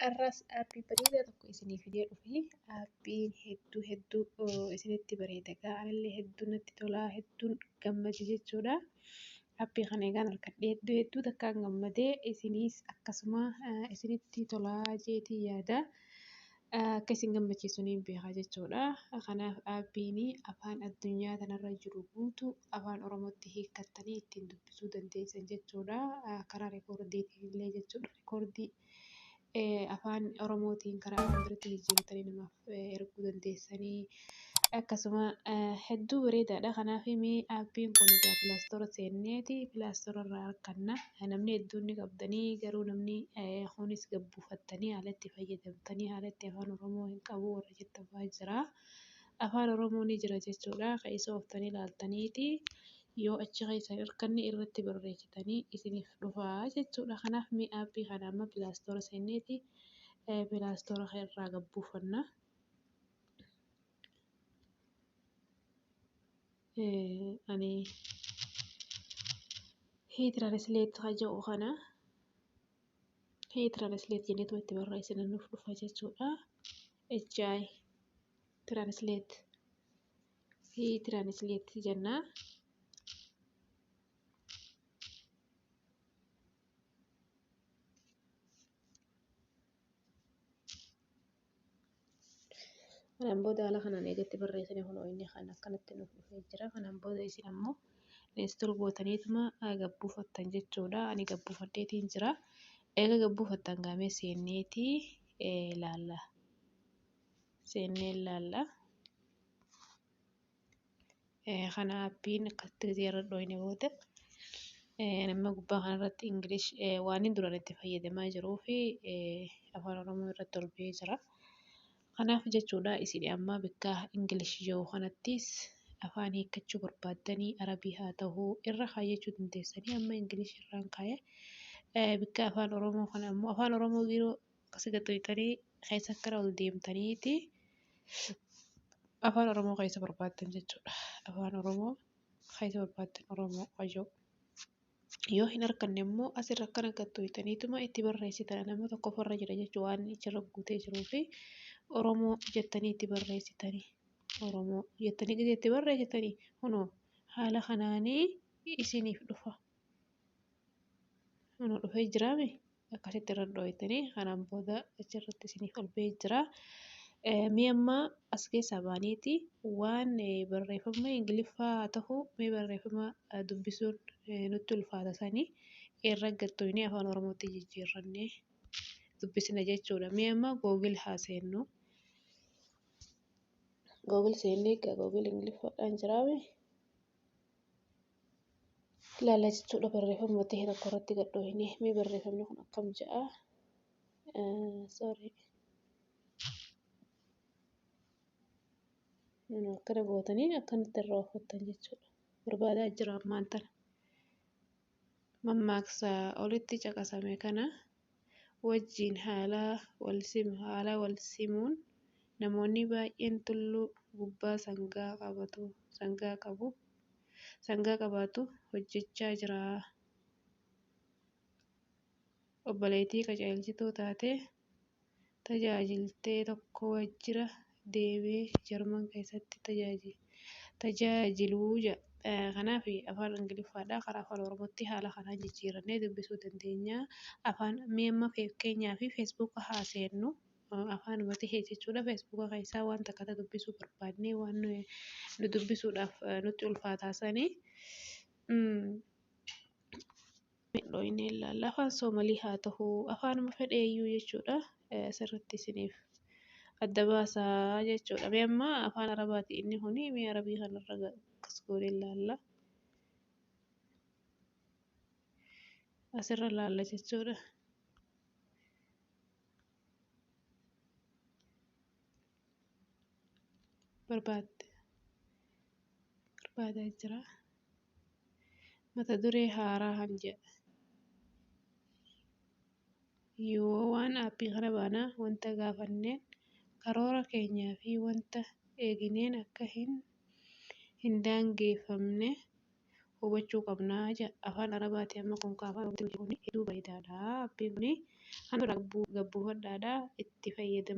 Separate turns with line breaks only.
Har'as aappi bareedaa tokko isiniif fidee dhufe. Aappiin hedduu hedduu isinitti bareeda. Egaa anillee hedduu natti tolaa hedduun gammade jechuudha. Aappii kana egaan argadhee hedduu hedduu takkaan gammadee isiniis akkasuma isinitti tolaa jeetii yaada. akka isin gammachiisu niin beeka jechuudha. Kanaaf aappiin afaan addunyaa tanarra jiru guutuu afaan Oromootti hiikkattanii ittiin dubbisuu dandeessan jechuudha. Karaa rikoordiitiin illee jechuudha. Rikoordii afaan Oromootiin karaa afaan birootti jijjiirtanii namaaf erguu dandeessanii. Akkasuma hedduu bareedaadha. Kanaaf mee aappiin kun egaa pilaastora seenneeti pilaastora irraa arganna. Namni hedduun ni qabdanii garuu namni kunis gabbuufattanii haala itti fayyadamtanii haala itti afaan Oromoo hin qabu warra jettan fa'aa jira. Afaan Oromoo ni jira jechuudha. Kan isa ooftanii ilaaltaniiti yoo achi keessa hin arganne irratti barreessitanii isiniif dhufaa jechuudha. Kanaaf mee aappii kana amma pilaastora seenneeti pilaastora irraa gabbuufanna. ani hii translate ka jedhu kana hii translate jenneetu itti barreessina nuuf dhufa jechuudha. HI translate hii translate jenna. Kanaan booda haala kanaan eegatti barreessine kun inni kan akkanatti nuuf dhufee jira. Kanaan booda isin ammoo install gootaniituma gabbuufattan jechuudha. Ani gabbuufadheetiin jira. Eega gabbuufattan gaamee seenneeti ilaalla. Seennee ilaalla. kana appiin akkatti gisee irra dhooyne booda nama gubbaa kana irratti ingilish waan duran itti fayyadamaa jiruu fi afaan oromoo irratti ol ba'ee jira. Kanaaf jechuudha isin amma bakka ingilish yoo kanattis afaan hiikkachuu barbaaddanii arabii haa ta'uu irra kaayyachuu dandeessanii amma ingilish irraan kaayee bakka afaan oromoo kana ammoo afaan oromoo yeroo akkasi gad dhiitanii keessa akkana ol deemtaniiti afaan Oromoo keessa barbaaddan jechuudha. Afaan Oromoo keessa barbaaddan Oromoo wajoo. Yoo hin arganne immoo asirra akkana gad dhiitaniituma itti barreessitan nama tokkof irra jira jechuu waan achirra guutee jiruu fi Oromoo jettanii itti barreessitanii. Oromoo jettanii gadi itti barreessitanii kunoo haala kanaanii isiniif dhufa. Kunoo dhufee jiraame. akkasitti irra dhooytanii kanaan booda achirratti isiniif ol ba'ee jira. Mee amma as keessaa baaneeti waan barreeffama Ingiliffaa haa ta'u mee barreeffama dubbisuun nutti ulfaata sanii irra gattoyne afaan Oromootti jijjiirrannee dubbisna jechuudha. Mee amma Google haa seennu. Google seennee egaa Google Ingiliffaadhaan jiraame. ilaalla jechuudha barreeffama ta'e tokko irratti gad dhoohinee mee barreeffamni kun akkam ja'a sorry akkana gootanii akkanatti irraa ooffattan jechuudha barbaadaa jira ammaan tana mammaaksa olitti caqasame kana wajjin haala walsimu. Haala walsimuun namoonni baay'een tulluu gubbaa sangaa qabatu, sangaa qabu, sangaa qabaatu hojjechaa jira. Obboleettii qajeelchituu taatee tajaajilte tokko waajjira deemee Jarman keessatti tajaajilu. Kanaaf afaan Ingiliffaadhaa karaa afaan Oromootti haala kanaan jijjiirannee dubbisuu dandeenya. Afaan mee amma fakkeenyaaf feesbuuka haa seennu. Afaanuma ta'e jechuudha feesbuuka keessaa waan takka ta'e dubbisuu barbaadnee waan nu dubbisuudhaaf nutti ulfaataa sanii. Mee dhooynee ilaalla. Afaan Soomalii haa tahu afaanuma fedheeyyuu jechuudha. Asirratti isiniif adda baasa jechuudha. Mee amma afaan Arabaati inni kuni mee Arabii kanarra akkas goonee ilaalla. Asirra ilaalla jechuudha. barbaadde barbaadaa jira mata duree haaraa kan jedha yoo waan aappii kana baanaa wanta gaafanneen karoora keenyaa fi wanta eegineen akka hin hin daangeeffamne hubachuu qabnaa jedha afaan arabaati amma kun ka afaan oromootiin hojii kun hedduu bareedaadha aappiin kun kan irraa gabbuufadhaadha itti fayyadama